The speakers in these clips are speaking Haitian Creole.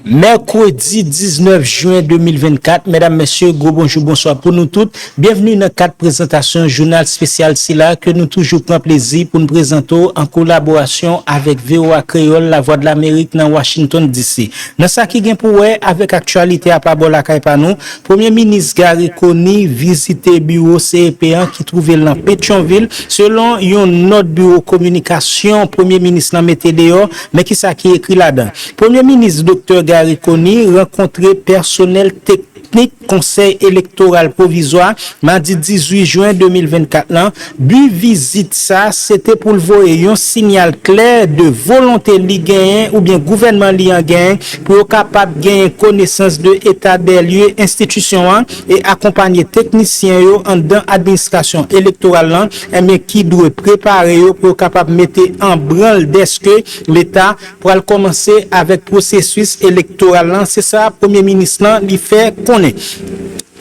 Mèkredi 19 jen 2024, medam mesye, gwo bonjou bonswa pou nou tout, byenvni nan kad prezantasyon jounal spesyal sila ke nou toujou pran plezi pou n prezante w an kolaborasyon avèk voa Kreyòl Lavwadlamerik nan Washington DC. Nan sa ki gen pou wè avèk aktyalite a pa bò lakay pa nou, Premye Minis Garry Conille vizite biwo CEP an ki twouve l nan Petyonvil, selon yon nòt biwo kominikasyon Premye Minis lan mete deyò, men kisa ki ekri ladan. Premye minis Doktè Garry Conille rankontre pèsonèl teknik Konsèy Elektoral Pwovizwa madi 18 jen 2024 lan, bi vizit sa se te pou l voye yon sinyal klè de volonte li genyen oubyen gouvènman li an genyen pou yo kapab genyen konesans de eta dè lye enstitisyon an e akonpanye teknisyen yo anndan administrasyon elektoral lan enben ki dwe prepare yo pou yo kapab mete an branl dèske leta pral kòmanse avèk pwosesis elektoral lan, se sa premye minis lan li fè konnen.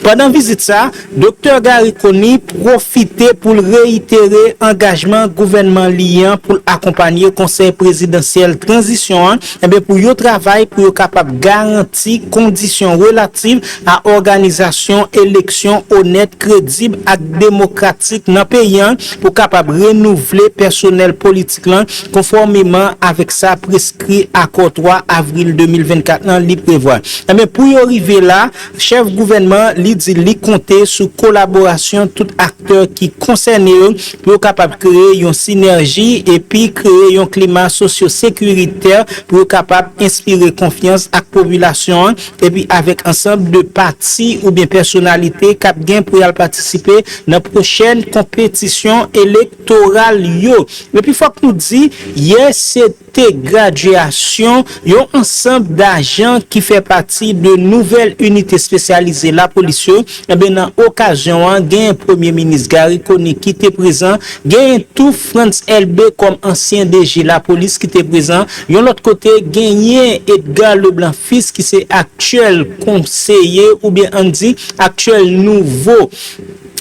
Pandan vizit sa, doktè Garry Conille pwofite pou l reyitere angajman gouvènman li an pou l akonpanye konsèy prezidansyèl tranzisyon an eh pou yo travay pou yo kapab garanti kondisyon relativ a òganizasyon eleksyon onèt, kredib ak demokratik nan peyi an pou kapab renouvle pèsonèl politik lan konfòmeman avèk sa preskri akò 3 avril 2024 lan li prevwa. Enben, pou yo rive la, chèf gouvènman li di li konte sou kolaborasyon tout aktè ki konsène yo pou yo kapab kreye yon sinèji epi kreye yon klima sosyosekiritè pou yo kapab enspire konfyans ak popilasyon an epi avèk ansanb de pati oubyen pèsonalite k ap gen pou y al patisipe nan pwochèn konpetisyon elek Elektoral yo. Epi fòk nou di, yè se te gradyasyon yon ansanb dajan ki fè pati de nouvèl inite spesyalize lapolis yo. Enben nan okazyon an, genyen Premye Minis Garry Conille ki te prezan, genyen tou Frantz Elbé kòm ansyen DG lapolis ki te prezan. Yon lòt kote, genyen Edgar Leblanc Fils ki se aktyèl konseye oubyen ann di aktyèl nouvo.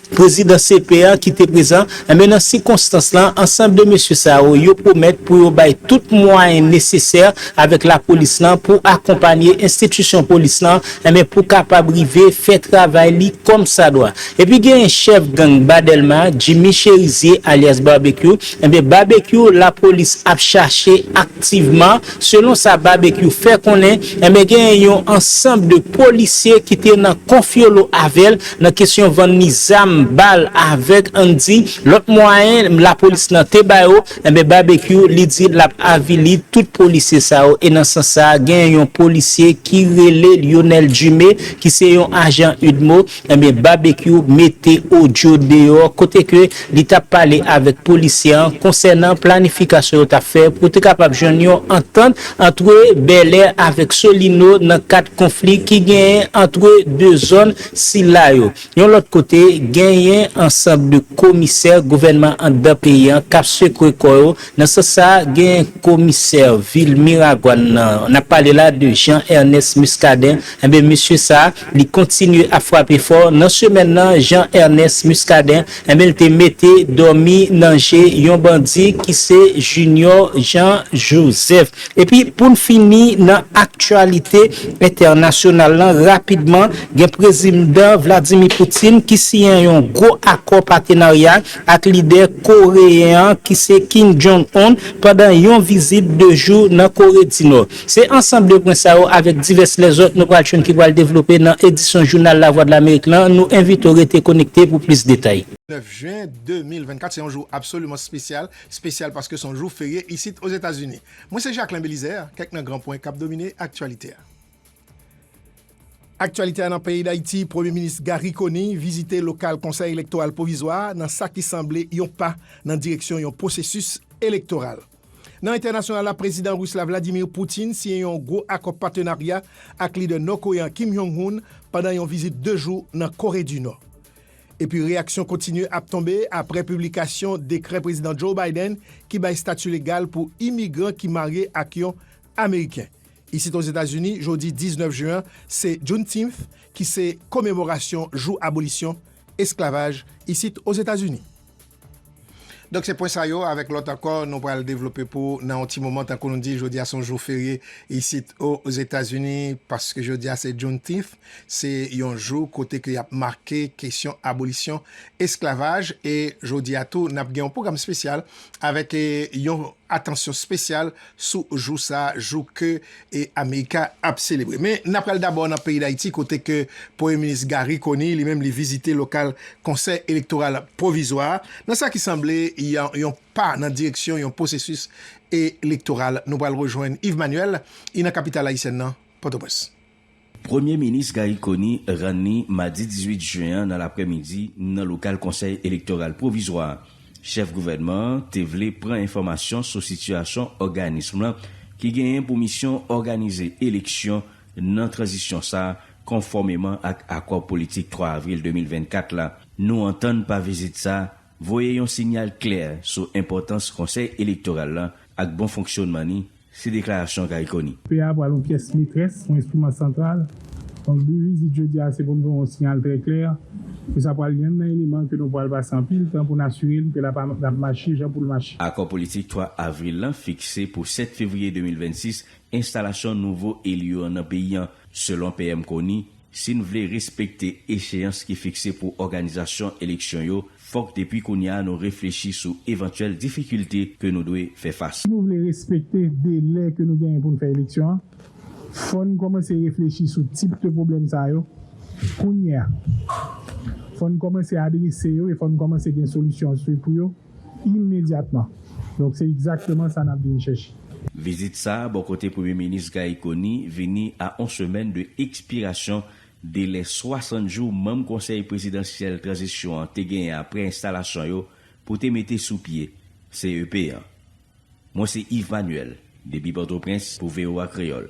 Prezidan CP a ki te prezan, enben nan sikonstans la, ansanm de mesye sa yo, yo pwomèt pou yo bay tout mwayen nesesè avèk lapolis lan pou akonpanye enstitisyon polis lan, enben pou kapab rive fè travay li kòmsadwa. Epi genyen chèf gang Ba Dèlma, Jimmy Chérizier alyas Barbecue, enben Barbecue lapolis ap chache aktivman, Selon sa Babekyou fè konnen, enben genyen yon ansanb de polisye ki te nan konfyolo avè l nan kesyon vann li zam, bal, avèg ann di lòt mwayen lapolis lan te ba yo, enben Babekyou li di l ap avili tout polisye sa yo e nan sans sa genyen yon polisye ki rele Lyonel Dumé ki se yon ajan udmo Ebyen Babekyou mete odyo deyò kote ke li t ap pale avèk polisye an konsènan planifikasyon yo t ap fè pou te kapab jwenn yon antant antre Bèlè avèk Solino nan kad konfli ki genyen antre 2 zòn sila yo. Yon lòt kote, genyen ansanb de komisè gouvènman anndan peyi an k ap sekwe kò yo Nan sans sa, gen komisè vil Miragwàn nan, n ap pale la de Jean Ernest Muscadin, enben mesye sa a, li kontinye ap frape fò, nan semèn nan, Jean Ernest Muscadin, enben l te mete dòmi nan je yon bandi ki se Junior Jean Joseph. Epi pou n fini nan aktyalite entènasyonal lan rapidman, gen Prezimdan Vladimir Putin ki siyen yon gwo akò patenarya ak lidè koreyen an ki se Kim Jong Un pandan yon vizit 2 jou nan Kore di Nò. Se ansanm 2 pwen sa yo avèk divès lèzòt nou pral jwenn ki pral devlope nan edisyon Jounal Lavwadlamerik lan, nou envite w rete konekte pou plis detay. 9 jen 2024 se yon jou absoliman spesyal, spesyal paske se yon jou ferye isit Ozetazini. Mwen se Jacquelin Belizaire, kèk nan gran pwen kap domine aktyalite a. Aktyalite a nan peyi Dayiti, Premye Minis Garry Conille vizite lokal Konsèy Elektoral Pwovizwa a nan sa ki sanble yon pa nan direksyon yon pwosesis elektoral. Nan entènasyonal la, Prezidan Ris la Vladimir Putin siyen yon gwo akò patenarya ak lidè nò-koreyan Kim Jong Un pandan yon vizit 2 jou nan Kore di Nò. Epi reyaksyon kontinye ap tonbe aprè piblikasyon dekrè Prezidan Joe Biden ki bay stati legal pou imigran ki marye ak yon Ameriken. Isit Ozetazini, jodi 19 jen an se Juneteenth ki se komemorasyon jou abolisyon esklavaj isit Ozetazini. Donk se pwen sa yo avèk lòt ankò nou pral devlope pou nan yon ti moman tankou nou di jodi a se yon jou ferye isit Ozetazini paske jodi a se Juneteenth se yon jou kote ke y ap make kesyon abolisyon esklavaj e jodi a tou n ap gen yon pwogram spesyal avèk yon atansyon spesyal sou jou sa a, jou ke Amerika ap selebre. Men na pral dabò nan peyi Dayiti kote ke Premye Minis Garry Conille li menm li vizite lokal Konsèy Elektoral Pwovizwa a nan sa ki sanble yon pa nan direksyon yon pwosesis elektoral. Nou pral rejwenn Yves Manuel I nan kapital ayisyèn nan, Pòtoprens. Premye minis Garry Conille rann li madi 18 jen an nan laprèmidi nan lokal Konsèy Elektoral Pwovizwa a. Chèf gouvènman an te vle pran enfòmasyon sou sitiyasyon òganism lan ki genyen pou misyon òganize eleksyon nan tranzisyon sa a konfòmeman ak akò politik 3 avril 2024 la. Nou antann pa vizit sa a voye yon sinyal klè sou enpòtans Konsèy Elektoral lan ak bon fonksyonman li Se deklarasyon Garry Conille. P a pral yon pyès metrès, yon enstriman santral. Donk bi vizit jodi a se pou n voye yon siyal trè klè ke sa pral yonn nan eleman ke nou pral pase anpil tan pou n asire n ke l ap l ap mache jan pou l mache. Akò politik 3 avril lan fikse pou 7 fevriye 2026 enstalasyon nouvo eli yo an nan peyi an, selon PM Conille. Si n vle respekte echeyans ki fikse pou òganizasyon eleksyon yo, fòk depi kounye a nou reflechi sou evantyèl difikilte ke nou dwe fè fas. Si nou vle respekte delè ke nou genyen pou n fè eleksyon an, fò n kòmanse reflechi sou tip de pwoblèm sa yo kounye a. Fò n kòmanse adrese yo e fò n kòmanse gen solisyon pou yo. imedyatman. Donk se egzakteman sa nap vin chèche. Vizit sa a bò kote Premye Minis Gary Conille vini a on semèn de ekspirasyon delè 60 jou manm Konsèy Prezidansyèl Tranzisyon an te genyen aprè enstalasyon yo pou te mete sou pye CEP an. Mwen se Yves Manuel depi Pòtoprens pou voa Kreyòl.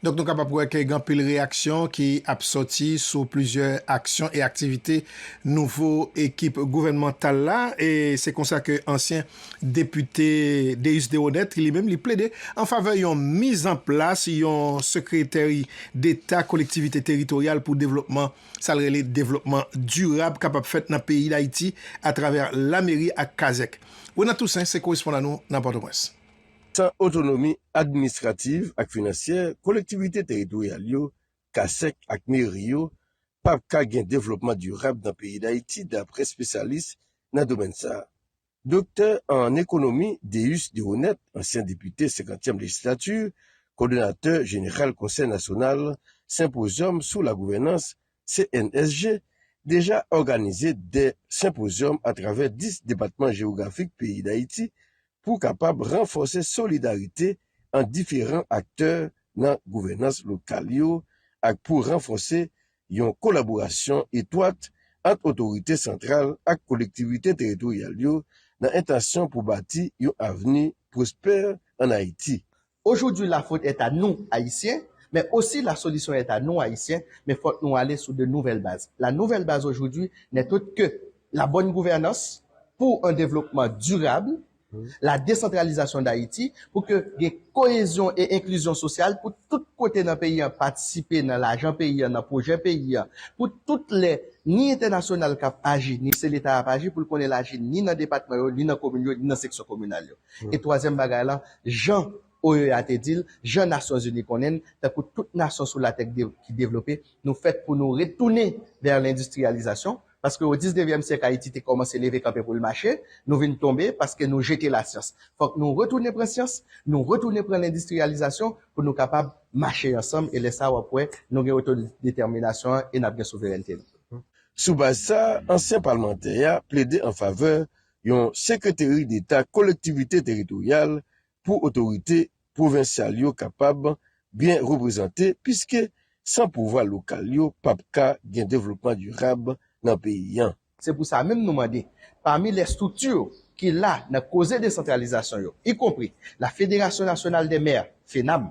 Donk nou kapab wè ke gen anpil reyaksyon ki ap sòti sou plizyè aksyon e aktivite nouvo ekip gouvènmantal la e se konsa ke ansyen depite Déus Deroneth ki li menm li plede an favè yon mizanplas yon sekreteri deta kolektivite teritoryal pou devlopman sa l rele devlopman dirab kapab fèt nan peyi Dayiti atravè lameri ak kazèk. Ronald Toussaint se korespondan nou nan Pòtoprens. San otonomi administrativ ak finansyè, kolektivite teritoryal yo, kasek ak meri yo, pap ka gen devlopman dirab nan peyi Dayiti dapre spesyalis nan domèn sa a. Doktè an ekonomi Deus Deroneth, ansyen depite senkantyèm lejislati, kòdonatè jeneral Konsèy nasyonal senpozyòm sou lagouvènans CNSG deja òganize 2 senpozyòm atravè 10 depatman jewografik peyi Dayiti pou kapab ranfòse solidarite ant diferan aktè nan gouvènans lokal yo ak pou ranfòse yon kolaborasyon etwat ant otorite santral ak kolektivite teritoryal yo nan entansyon pou bati yon avni pwospè ann Ayiti. Aujourd'hui la faute est à nous Haïtiens mais aussi la solution est à nous Haïtiens mais fòk nou ale sou de nouvelles bases. La nouvelle base aujourd'hui n'est autre que la bonne gouvernance pour un développement durable, la décentralisation d'Haïti pou ke gen cohésion et inclusion sociale pou tout kote nan peyi an patisipe nan lajan peyi an, nan projè peyi an, pou tout lè ni entènasyonal kap aji ni se leta ap aji pou l konnen l aji ni nan depatman yo, ni nan komin yo, ni nan seksyon kominal yo. E twazyèm bagay la, jan OEA te di l, jan Nasyonzini konnen l, tankou tout nasyon sou latè ki devlope, nou fèt pou nou retounen vè lendistriyalizasyon, paske o diznevyèm syèk Ayiti te kòmanse leve kanpe pou l mache, nou vin tonbe paske nou jete lasyans. Fòk nou retounen pran syans, nou retounen pran lendistriyalizasyon pou nou kapab mache ansanm e lè sa a w ap wè nou gen otodetèminasyon an e n ap gen souverènte nou. Sou baz sa a, ansyen palmantè a plede an favè yon Sekreteri Deta Kolektivite Teritoryal pou otorite pwovensyal yo kapab byen reprezante piske san pouvwa lokal yo pa p ka gen devlopman dirab nan peyi an. Se pou sa menm nou mande, pami lè estrikti ki la nan koze desantralizasyon yo, ikonpri la Federasyon Nasyonal dè Mè, FENAMH,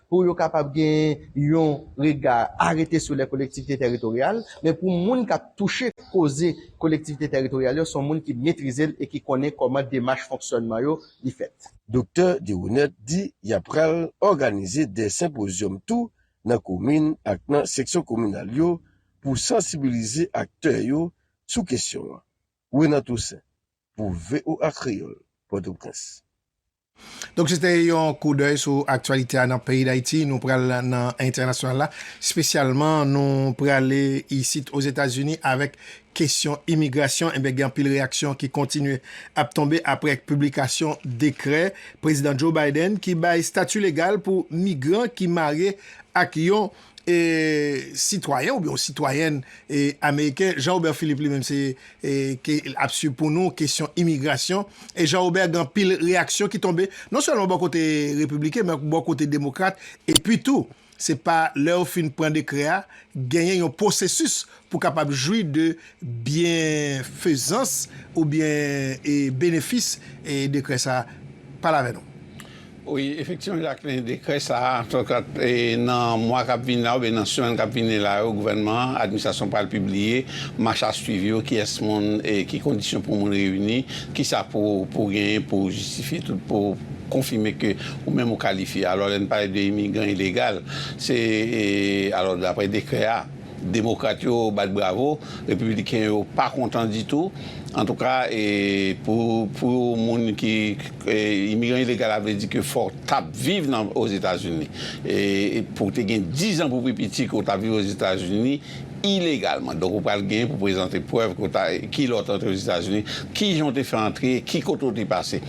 pou yo kapab gen yon rega arete sou lè kolektivite teritoryal, men pou moun k ap touche koze kolektivite teritoryal yo, se yon moun ki metrize l e ki konnen kòman demach fonksyònman yo li fèt. Doktè Deroneth di y ap pral òganize 2 senpozyòm tou nan komin ak nan seksyon kominal yo pou sansibilize aktè yo sou kesyon an. Renan Toussaint pou voa Kreyòl, Pòtoprens. Donk se te yon koudèy sou aktyalite a nan peyi Dayiti. Nou pral nan entènasyonal la. Spesyalman nou prale isit Ozetazini avèk kesyon imigrasyon. Ebyen gen anpil reyaksyon ki kontinye ap tonbe apre piblikasyon dekrè Prezidan Joe Biden ki bay stati legal pou migran ki marye ak yon sitwayen oubyen yon sitwayèn ameriken Jean Robert Philippe li menm se ke l ap swiv pou nou kesyon imigrasyon e Jean Robert gen anpil reyaksyon ki tonbe non sèlman bò kote repibliken men bò kote demokrat epi tou se pa lè yo fin pran dekrè a genyen yon pwosesis pou kapab jwi de byenfezans oubyen benefis dekrè sa a? Pale avè nou. Wi, efektivman Jacqueline, dekrè sa a, antouka nan mwa k ap vini la oubyen nan semèn k ap vini la yo, gouvènman an, administrasyon an pral pibliye machasuiv yo, kiyès moun, ki kondisyon pou moun reyini, kisa pou ou genyen pou ou jistifye tout, pou ou konfime ke ou menm ou kalifye. Alò lè n pale de imigran ilegal, se alò daprè dekrè a, Demokrat yo bat bravo, Repibliken yo pa kontan ditou. Antouka, pou moun ki, imigran ilegal a vle di ke fò w t ap viv nan Ozetazini. Pou w te gen dizan pou pi piti ke w t ap viv Ozetazini ilegalman. Donk ou pral gen pou prezante prèv ke w ta, ki lè w te antre Ozetazini, ki jan w te fè antre, ki kote w te pase.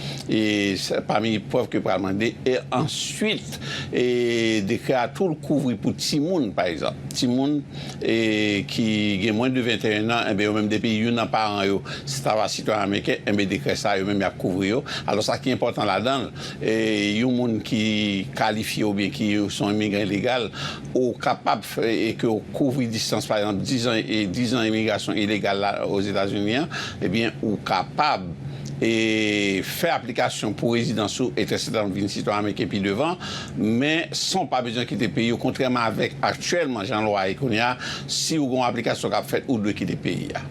Pami prèv ke yo pral mande. E answit. E dekrè a tou kouvri pou timoun pa egzanp. Timoun e ki gen mwens de 21 an enben yo menm depi youn nan paran yo se ta va sitwayen ameriken enben dekrè sa yo menm yap kouvri yo. Alò sa ki enpòtan ladan l e yon moun ki kalifye oubyen ki son imigran ilegal Ou kapab fè e ke w kouvri distans, pa egzanp, dizan e dizan imigrasyon ilegal la Ozetazini an, ebyen ou kapab e fè aplikasyon pou rezidans ou etseteram vin sitwayen ameriken pi devan, men san w pa bezwen kite peyi ou kontrèman avèk aktyèlman jan lwa ye kounye a, si ou gen yon aplikasyon kap fèt ou dwe kite peyi a.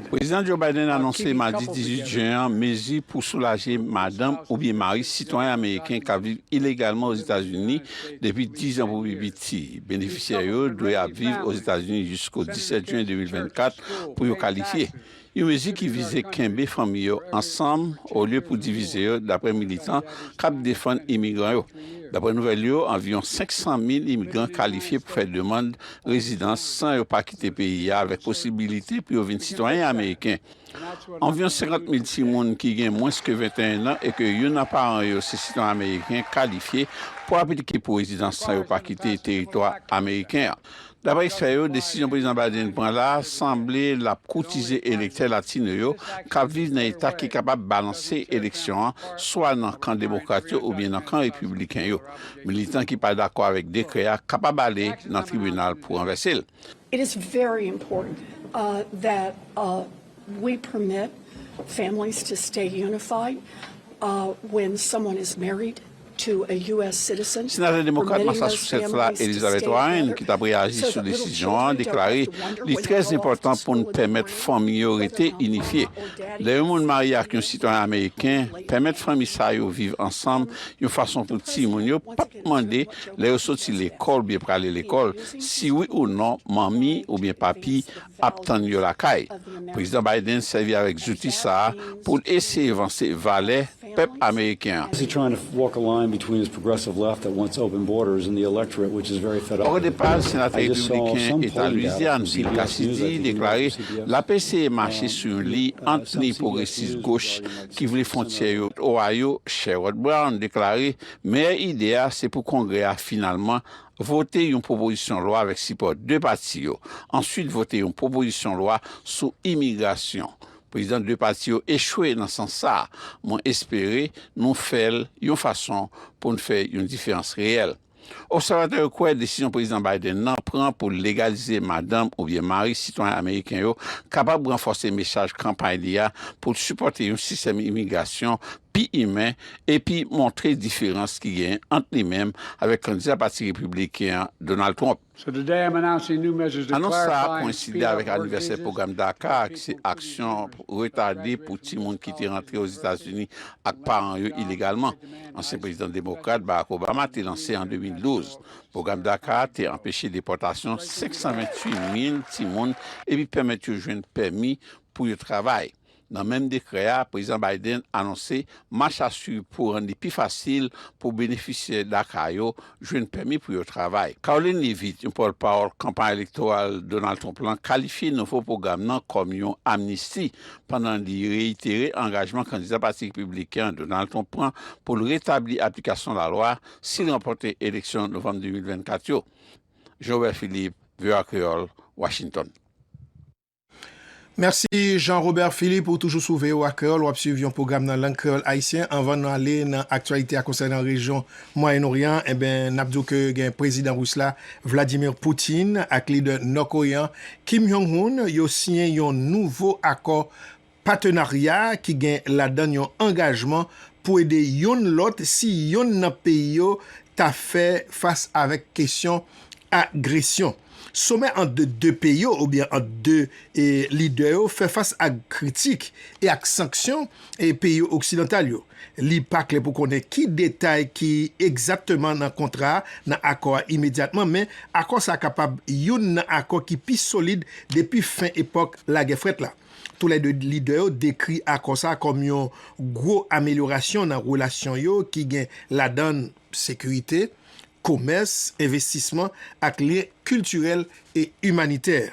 Prezidan Joe Biden anonse madi 18 jen an mezi pou soulaje madanm oubyen mari sitwayen ameriken k ap viv ilegalman Ozetazini depi 10 an pou pi piti. Benefisyè yo dwe ap viv Ozetazini jisko 17 jen 2024 pou yo kalifye. Yon mezi ki vize kenbe fanmi yo ansanm olye pou divize yo, daprè militan k ap defann imigran yo. Daprè nouvèl yo, anviwon 500 mil imigran kalifye pou fè demand rezidans san yo pa kite peyi a avèk posibilite pou yo vin sitwayen ameriken. Anviwon 50 mil timoun ki gen mwens ke 21 an e ke youn nan paran yo se sitwayen ameriken kalifye pou aplike pou rezidans san yo pa kite teritwa ameriken an. Daprè ekspè yo, desizyon Prezidan Biden pran la a sanble l ap koutize elektè latino yo k ap viv nan eta ki kapab balanse eleksyon an swa nan kan demokrat yo oubyen nan kan repibliken yo. Militan ki pa dakò avèk dekrè a kapab ale nan tribinal pou ranvèse l. It is very important that we permit families to stay unified when someone is married Senatè demokrat Massachusetts la Elizabeth Warren, ki t ap reyaji sou desizyon an, deklare li trè enpòtan pou n pèmèt fanmi yo rete inifye. Lè yon moun marye ak yon sitwayen ameriken, pèmèt fanmi sa yo viv ansanm yon fason pou timoun yo pa p mande lè yo soti lekòl oubyen prale lekòl si wi ou non manmi oubyen papi ap tann yo lakay. Prezidan Biden sèvi avèk zouti sa a pou l eseye vanse valè pèp ameriken an. Òdepa, senatè repibliken Eta Lwizyàn Bill Cassidy deklare l ap eseye mache sou yon liy ant liy pwogresis goch ki vle fwontyè yo Ohio, Sherrod Brown deklare meyè ide a se pou Kongrè a finalman Vote yon pwopozisyon lwa avèk sipò 2 pati yo. Answit vote yon pwopozisyon lwa sou imigrasyon. Prezidan 2 pati yo echwe nan sans sa a. Mwen espere nou fè l yon fason pou n fè yon diferans reyèl. Obsèvatè yo kwè desizyon Prezidan Biden nan pran pou l legalize madanm oubyen mari sitwayen ameriken yo kapab ranfòse mesaj kanpay li a pou l sipòte yon sistèm imigrasyon pi imen epi montre diferans ki genyen ant li menm avèk kandida pati Repibliken an, Donald Trump. Anons sa a kowenside avèk anivèsè pwogram DACA a ki se aksyon retade pou timoun ki te rantre Ozetazini ak paran yo ilegalman, ansyen prezidan demokrat Barack Obama te lanse an 2012. Pwogram DACA a te anpeche depòtasyon 528 mil timoun epi pèmèt yo jwenn pèmi pou yo travay. Nan menm dekrè a, Prezidan Biden anonse mach a swiv pou rann li pi fasil pou benefisyè DACA yo jwenn pèmi pou yo travay. Karoline Leavitt, yon pòtpawòl kanpay elektoral Donald Trump lan, kalifye nouvo pwogram nan kòm yon amnisti pandan li reyitere angajman kandida Pati Repibliken an Donald Trump pran pou l retabli aplikasyon lalwa si l ranpòte eleksyon novanm 2024 yo. Jean-Robert Philippe, voa Kreyòl, Washington. Mèsi Jean Robert Philippe ou toujou sou voa Kreyòl wap swiv yon pwogram nan lang kreyòl ayisyen anvan nou ale nan aktyalite a konsènan rejyon mwayen oryan an enben nap di w ke gen prezidan ris la Vladimir Poutine ak lidè nò koreyen an Kim Hyung Hoon yo siyen yon nouvo akò Patenarya ki gen ladan yon angajman pou ede youn lòt si youn nan peyi yo ta fè fas avèk kesyon agresyon. Somè ant 2 peyi yo oubyen ant 2 lidè yo fè fas ak kritik e ak sanksyon peyi oksidantal yo. Li pa klè pou konnen ki detay ki egzatteman nan kontra a, nan akò a imedyatman, men akò sa a kapab youn nan akò ki pi solid depi fen epòk Lagè Frèt la. Tou lè 2 lidè yo dekri akò sa kòm yon gwo amelyorasyon nan relasyon yo ki gen ladann sekirite, komès, envestisman ak lyen kiltirèl e imanitè.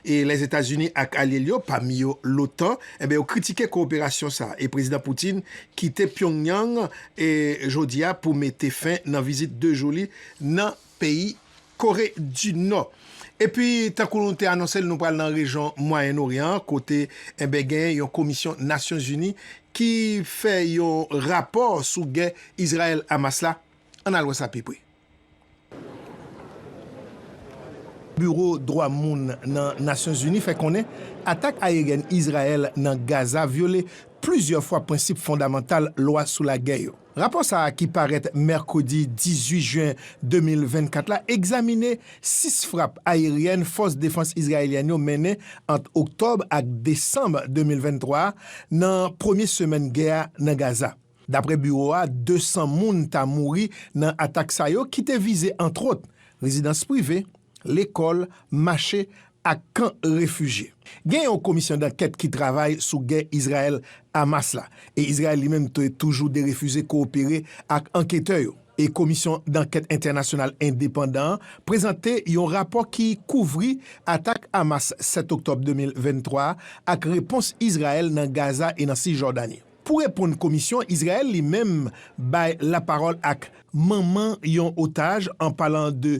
E Lèzetazini ak alye l yo, pami yo l'OTAN, enben yo kritike kowoperasyon sa e Prezidan Putin kite Pyongyang jodi a pou mete fen nan vizit 2 jou li nan peyi Kore di Nò. Epi tankou nou te anonse l nou pral nan rejyon Mwayen Oryan an kote enben gen yon komisyon Nasyonzini ki fè yon rapò sou gè Izrayèl-Hamas la. Ann al wè sa pi pre. Biwo dwa moun nan Nasyonzini fè konnen atak ayeryen Izrayèl nan Gaza vyole plizyè fwa prensip fondamantal lwa sou lagè yo. Rapò sa a ki parèt mèkredi 18 jen 2024 la egzamine 6 frap ayeryèn fòs defans izrayelyèn yo mennen ant oktòb ak desanm 2023 a nan premye semèn gè a nan Gaza. Dapre biwo a, 200 moun ta mouri nan atak sa yo ki te vize antwòt rezidans prive, lekòl, mache ak kan refijye. Gen yon komisyon dankèt ki travay sou gè Izrayèl-Hamas la, e Izrayèl li menm te toujou derefize kowopere ak anketè yo. E komisyon dankèt entènasyonal endepandan an prezante yon rapò ki kouvri atak Hamas 7 oktòb 2023 a ak repons Izrayèl nan Gaza e nan Sisjòdani. Pou reponn komisyon, Izrayèl li menm bay lapawòl ak manman yon otaj an palan de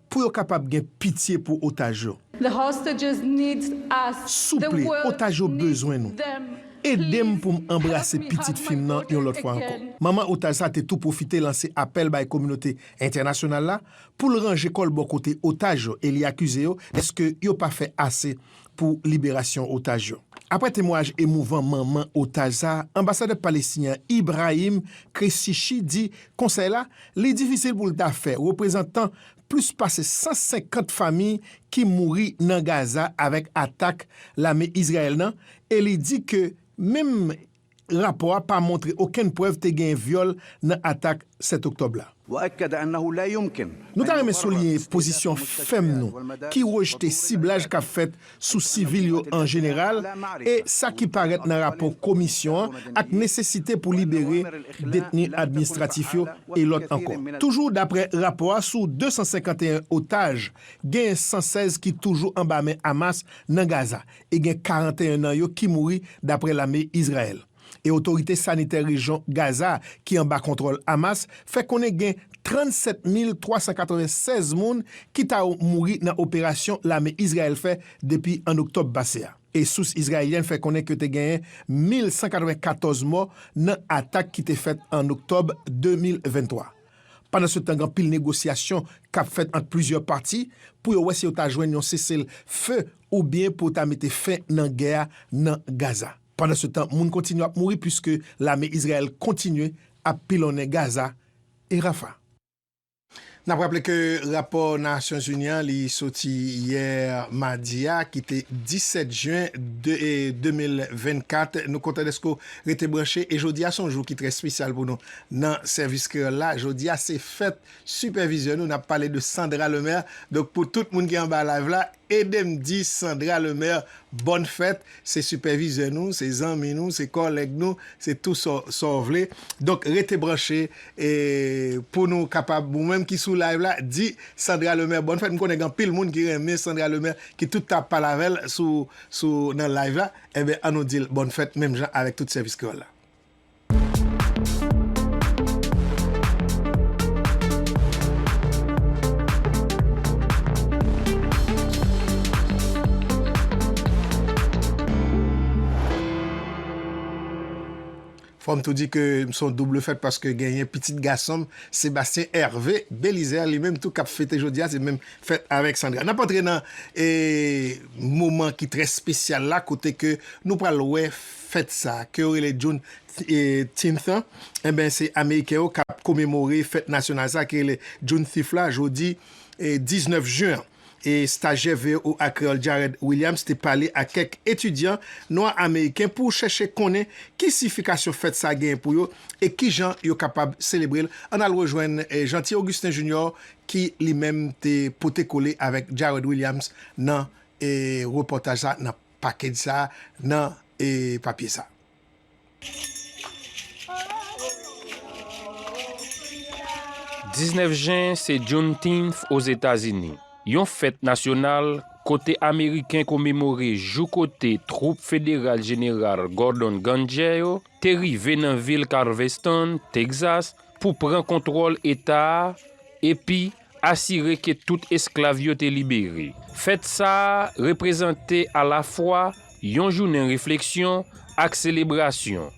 Pou yo kapab gen pitye pou otaj yo. The hostages need us. Souple, otaj yo bezwen nou. Ede m pou m anbrase pitit fi m nan yon lòt fwa ankò. Manman otaj sa te tou pwofite lanse apèl bay kominote entènasyonal la pou l ranje kò l bò kote otaj yo e li akize yo dèske yo pa fè ase pou liberasyon otaj yo. Aprè temwayaj emouvan manman otaj sa, anbasadè palestinyen an Ibrahim Kressichi di konsèy la li difisil pou l ta fè reprezantan plis pase 150 fami ki mouri nan Gaza avèk atak lame Izrayèl nan e li di ke menm Rapò a pa montre okenn prèv te genyen vyòl nan atak 7 oktòb la. Nou ta renmen souliye pozisyon fèm nou ki rejte siblaj k ap fèt sou sivil yo an jeneral e sa ki parèt nan rapò Komisyon an ak nesesite pou libere detni administratif yo e lòt ankò. Toujou daprè rapò a, sou 251 otaj, genyen 116 ki toujou anba men Hamas nan Gaza e gen 41 nan yo ki mouri, dapre lame Izrayèl. E otorite sanitè rejyon Gaza ki anba kontwòl Hamas fè konnen gen 37 mil 396 moun ki ta mouri nan operasyon lame Izrayèl fè depi an oktòb pase a. E sous izraelyèn fè konnen ke te genyen 1.194 mò nan atak ki te fèt an oktòb 2023. Pandansetan gen anpil negosyasyon k ap fèt ant plizyè pati pou yo wè si yo ta jwenn yon sese l fe oubyen pou ta mete fen nan gè a nan Gaza. Pandansetan, moun kontinye ap mouri puiske lame Izrayèl kontinye ap pilonnen Gaza e Rafah. N ap raple ke rapò Nasyonzini an li soti yè madi a ki te 17 jen 2024. Nou kontan dèske w rete branche e jodi a se yon jou ki trè spesyal pou nou nan Sèvis Kreyòl la. Jodi a se fèt sipèvizè nou, n ap pale de Sandra Lemaire. Donk pou tout moun ki anba live la. Edem di Sandra Lemaire bòn fèt, se sipèvizè nou, se zanmi nou, se kòlèg nou, se tou sa w vle. Donk rete branche pou nou kapab, ou menm ki sou live la, di Sandra Lemaire bòn fèt. M konnen gen anpil moun ki renmen Sandra Lemaire ki tout tan ap pale avè l sou nan live la. Enben an nou di l bòn fèt menm jan avèk tout sèvis kreyòl la. Fò m tou di ke m se yon double fèt paske genyen pitit gason m, Sébastien Hervé Bélizaire, li menm tou k ap fete jodi a, se menm fèt avèk Sandra. N ap antre nan moman ki trè spesyal la kote ke nou pral wè Fèt sa, ke yo rele Juneteenth lan, enben se Ameriken yo k ap komemore fèt nasyonal sa ki rele Junethief la jodi 19 jen an. E stajyè voa Kreyòl Jared Williams te pale ak kèk etidyan nwa ameriken pou chèche konnen ki siyifikasyon fèt sa genyen pou yo e ki jan yo kapab selebre l. Ann al rejwenn Jeanty Augustin Junior ki li menm te pote kole avèk Jared Williams nan repòtaj sa nan. Package sa nan e papye sa. Diznèf jen se Juneteenth Ozetazini, yon fèt nasyonal kote ameriken komemore jou kote twoup federal Jeneral Gordon Gangè yo te rive nan vil Carveston, Texas, pou pran kontwòl eta a epi Asire ke tout esklav yo te libere. Fèt sa a reprezante alafwa yon jounen refleksyon ak selebrasyon,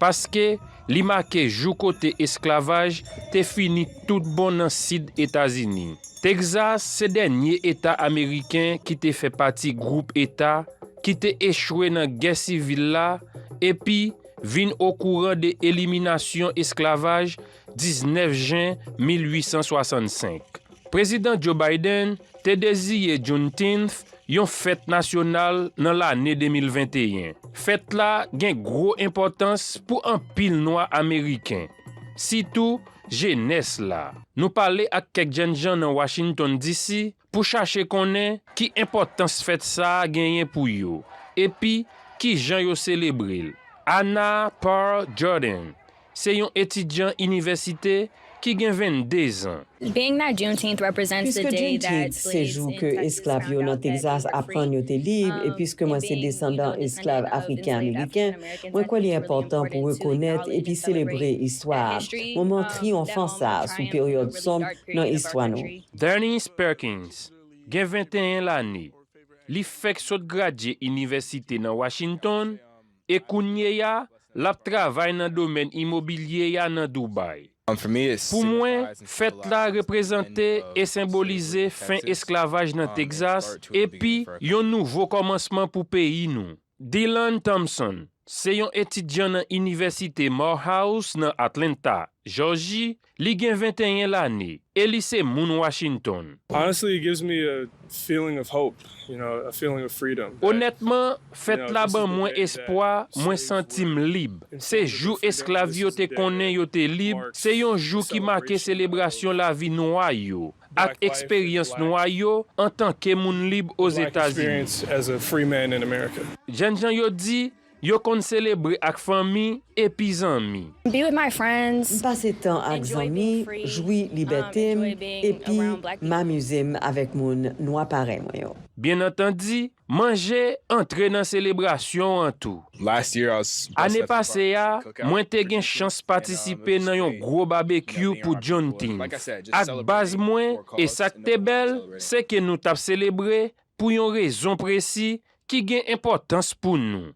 paske li make jou kote esklavaj te fini toutbon nan Sid Etazini. Texas se dènye eta ameriken ki te fè pati gwoup eta ki te echwe nan Gè Sivil la epi vin okouran de eliminasyon esklavaj 19 jen 1865, Prezidan Joe Biden te deziye Juneteenth yon fèt nasyonal nan lane 2021. Fèt la gen gwo enpòtans pou anpil Nwa Ameriken, sitou jenès la. Nou pale ak kèk jènjan nan Washington, DC. pou chache konnen ki enpòtans fèt sa a genyen pou yo epi ki jan yo selebre l. Anna Parr Jordan se yon etidyan inivèsite ki gen 22 zan. Piske Juneteenth se jou ke esklav yo nan Texas aprann yo te lib, e piske mwen se desandan esklav Afriken-Ameriken, mwen kwè li enpòtan pou rekonèt epi selebre istwa a, moman triyonfan sa a sou peryòd sonb nan istwa nou. Darnise Perkins gen 21 lane, li fèk sot gradye inivèsite nan Washington e kounyeya l ap travay nan domèn imobilye a nan Dubai. Pou mwen, fèt la reprezante e senbolize fen esklavaj nan Texas epi yon nouvo kòmansman pou peyi nou. Dylan Thompson se yon etidyan nan Inivèsite Morehouse nan Atlanta, Jòji, li gen 21 lane e li se moun Washington. Honestly it gives me a feeling of hope, you know, a feeling of freedom that, Onètman, you know, fèt la this is ban the mwen day that espwa, mwen slaves santi m were lib. Se informed of jou their freedom, esklav this yo is the te day konnen that yo te lib, all se yon Americans jou ki make celebrate the celebrasyon lavi nwa yo, ak eksperyans nwa yo antanke moun lib Ozetazini. Jènjan yo di yo konn selebre ak fanmi epi zanmi. M pase tan ak zanmi, jwi libète m, epi m amize m avèk moun nwa parèy mwen yo. Byenantandi, Manje antre nan selebrasyon an tou. Ane pase a, mwen te gen chans patisipe nan yon gwo babekyou pou Juneteenth ak baz mwen e sa k te bèl se ke nou t ap selebre pou yon rezon presi ki gen enpòtans pou nou.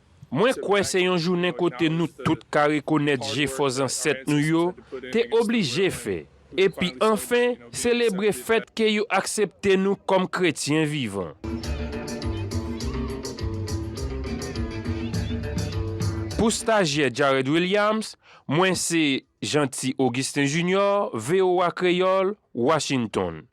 Mwen kwè se yon jounen kote nou tout ka rekonèt jefò zansèt nou yo te oblije fè, epi anfen selebre fèt ke yo aksepte nou kòm kretyen vivan. Pou stajyè Jarred Williams, mwen se Jeanty Augustin Junior, voa Kreyòl, Washington.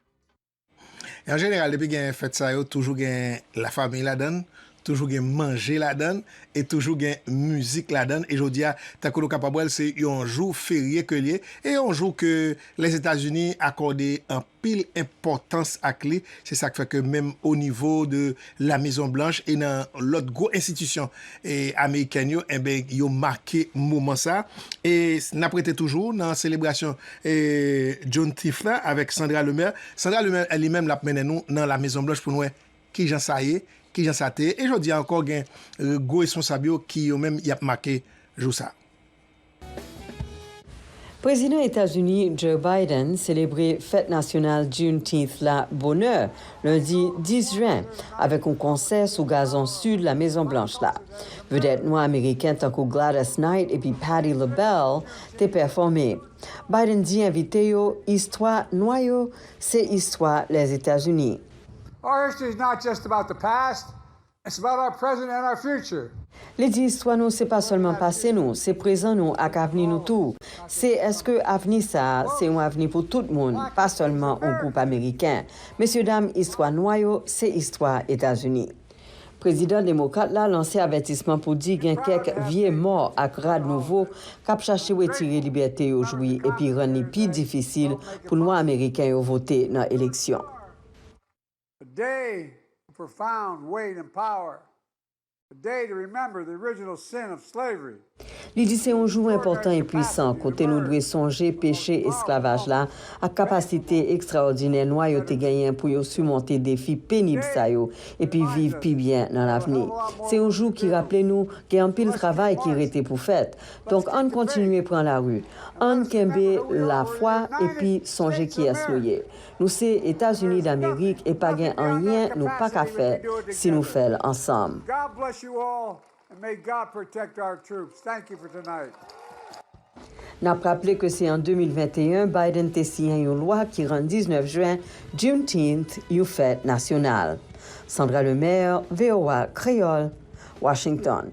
E an jeneral depi gen fèt sa yo toujou gen la famiy ladan l, toujou gen manje ladan l e toujou gen mizik ladan l e jodi a tankou nou kapab wè l se yon jou ferye ke l ye e yon jou ke Lèzetazini akòde anpil enpòtans ak li se sa k fè ke menm onivo de La Mezon Blanch e nan lòt gwo enstitisyon amerikèn yo enben yo make moman sa. E n ap rete toujou nan selebrasyon Juneteenth la avèk Sandra Lemaire. Sandra Lemaire li menm l ap mennen nou nan La Mezon Blanch pou n wè ki jan sa ye, ki jan sa te ye. E jodi a ankò gen gwo responsab yo ki yo menm y ap make jou sa. Prezidan Etazini Joe Biden selebre fèt nasyonal Juneteenth la bonè lendi 10 jen avèk yon konsè sou gazon sid La Mezon Blanch la. Vedèt nwa ameriken tankou Gladys Knight epi Patti LaBelle te pèfòme. Biden di envite yo istwa nwa yo se istwa Lèzetazini. It's about our present and our future. Li di istwa nou se pa sèlman pase nou, se prezan nou ak avni nou tou. Se èske avni sa a se yon avni pou tout moun, pa sèlman yon gwoup Ameriken. Mesyedam, istwa nwa yo se istwa Etazini. Prezidan demokrat la lanse avètisman pou di gen kèk vye mò ak rad nouvo k ap chache wetire libète yo jwi epi rann li pi difisil pou nwa Ameriken yo vote nan eleksyon. A day of profound weight and power, a day to remember the original sin of slavery. Li di se yon jou enpòtan e puisan kote nou dwe sonje peche esklavaj la ak kapasite ekstraòdinè nwa yo te genyen pou yo simonte defi penib sa yo epi viv pi byen nan lavni. Se yon jou ki raple nou gen anpil travay ki rete pou fèt, donk ann kontinye pran lari, ann kenbe lafwa epi sonje kiyès nou ye. Nou se etazini damerik e pa gen anyen nou paka fè si nou fèl ansanm. Nap raple ke se an 2021 Biden te siyen yon lwa ki rann 19 jen, Juneteenth, yon fèt nasyonal. Sandra Lemaire, voa Kreyol, Washington.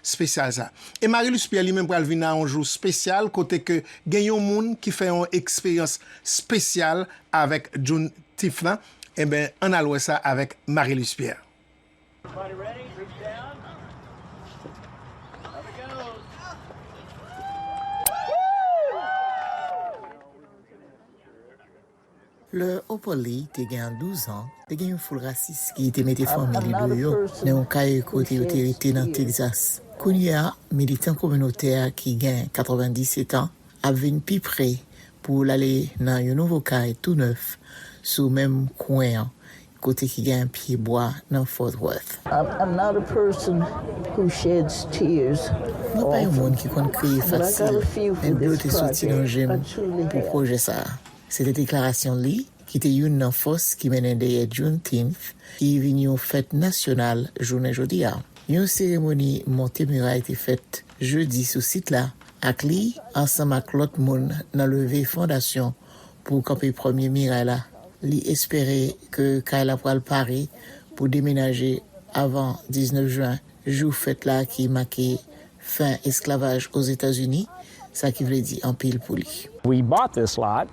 spesyal sa. E Marie-Luce Pierre li menm pral vin a yon jou spesyal kote ke gen yon moun ki fè yon eksperyans spesyal avèk Juneteenth lan, enben ann al wè sa avèk Marie-Luce Pierre. Lè Opoli te gen douzan, te gen yon foul rasis ki te mete fanmi li deyò nan yon kay kote yo te rete nan Tegzas. Kounye a, militan kominotè a ki gen 97 an ap vin pi pre pou l ale nan yon nouvo kay tou nèf sou menm kwen an Kote ki gen pye bwa nan Fort Worth? I'm not a person who sheds tears often, but I got a few for this project. Mwen pa yon moun ki konn kriye fasil, men dlo te soti nan je m pou pwojè sa a. Se te deklarasyon li ki te youn nan fòs ki mennen dèyè Juneteenth ki vin yon fèt nasyonal jounen jodi a. Yon seremoni monte miray te fèt jedi sou sit la ak li ansanm ak lòt moun nan leve fondasyon pou kanpe premye miray la. Li espere ke kay la pral pare pou demenaje avan 19 jen, jou fèt la ki make fen esklavaj Ozetazini, sa ki vle di anpil pou li. We bought this lot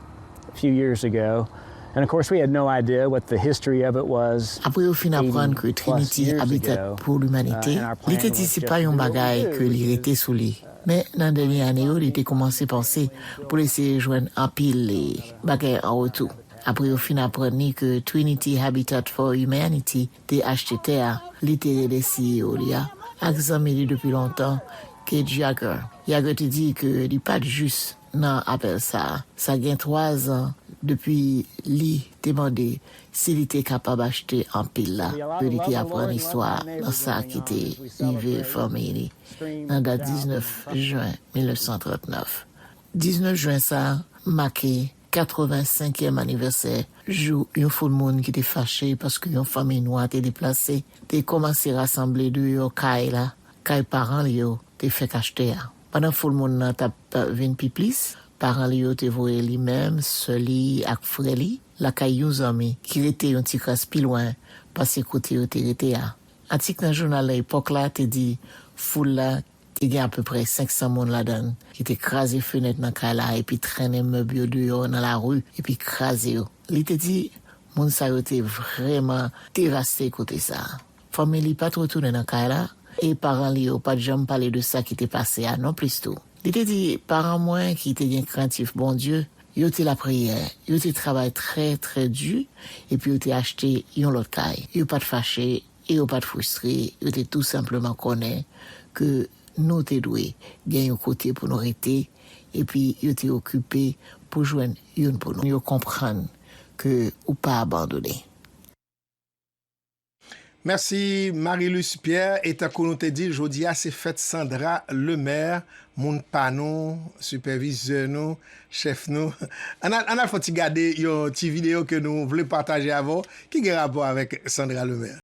a few years ago and of course we had no idea what the history of it was. Apre yo fin aprann ke Trinity Habitat pour l'Humanité, li te di se pa yon bagay ke li rete sou li. Men, nan dènye ane yo, li te koumanse panse pou l eseye jwenn anpil bagay an retou. Apre yo fin aprann li ke Trinity Habitat for Humanity te achte tè a li te rele CEO li a ak zanmi li depi lontan, Kate Jagger, Jagger te di ke li pa t jis nan apèl sa a. Sa gen twazan depi li te mande si li te kapab achte anpil la ke li te aprann istwa nan sa ki te rive fanmi li. nan dat 19 jen 1939. 19 jen sa a make 85 yèm anivèsè jou yon foul moun ki te fache paske yon fanmiy nwa te deplase te kòmanse rasanble deyò kay la, kay paran li yo te fèk achte a. Pandan foul moun nan t ap vin pi plis, paran li yo te voye li menm, sè li ak frè li lakay yon zanmi ki rete yon ti kras pi lwen pase kote yo te rete a. Atik nan jounal Le Epoque la te di foul la te gen apeprè 500 moun ladan l ki te kraze fenèt nan kay la epi trennen mèb yo deyò nan lari epi kraze yo. Li te di moun sa yo te vrèman devaste kote sa a. Fanmi li pa t retounen nan kay la e paran li yo pa t janm pale de sa ki te pase a nonplis tou. Li te di, Paran mwen ki te gen krentif Bondye, yo te lapriyè, yo te travay trè, trè di, epi yo te achte yon lòt kay. Yo pa t fache e yo pa t fristre, yo te tou senpleman konnen ke nou te dwe gen yon kote pou nou rete, epi yo te okipe pou jwenn youn pou nou. Yo konprann ke ou pa abandone. Mèsi Marie-Luce Pierre e tankou nou te dil jodi a se fèt Sandra Lemaire moun pa nou sipèvizè nou chèf nou ann al ann al fon ti gade yon ti video ke nou vle pataje avè w ki gen rapò avèk Sandra Lemaire.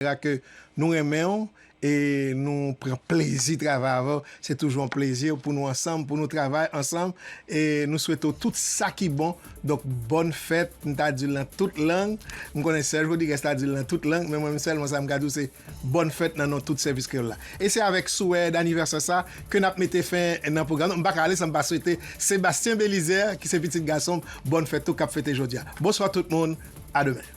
Vera ke nou renmen w e nou pran plezi travay avè w se toujou yon plezi pou nou ansanm pou nou travay ansanm e nou swete w tout sa ki bon donk bòn fèt m ta di l nan tout lang m konnen sè Jodigues ta di l nan tout lang men mwen menm sèlman sa m ka di w se bòn fèt nan non tout sèvis kreyòl la e se avèk souwè danivèsè sa ke n ap mete fen nan pwogram nou m pa ka ale san m pa swete Sébastien Bélizaire ki se pitit gason m bòn fèt tou k ap fete jodi a bonswa tout moun a demen.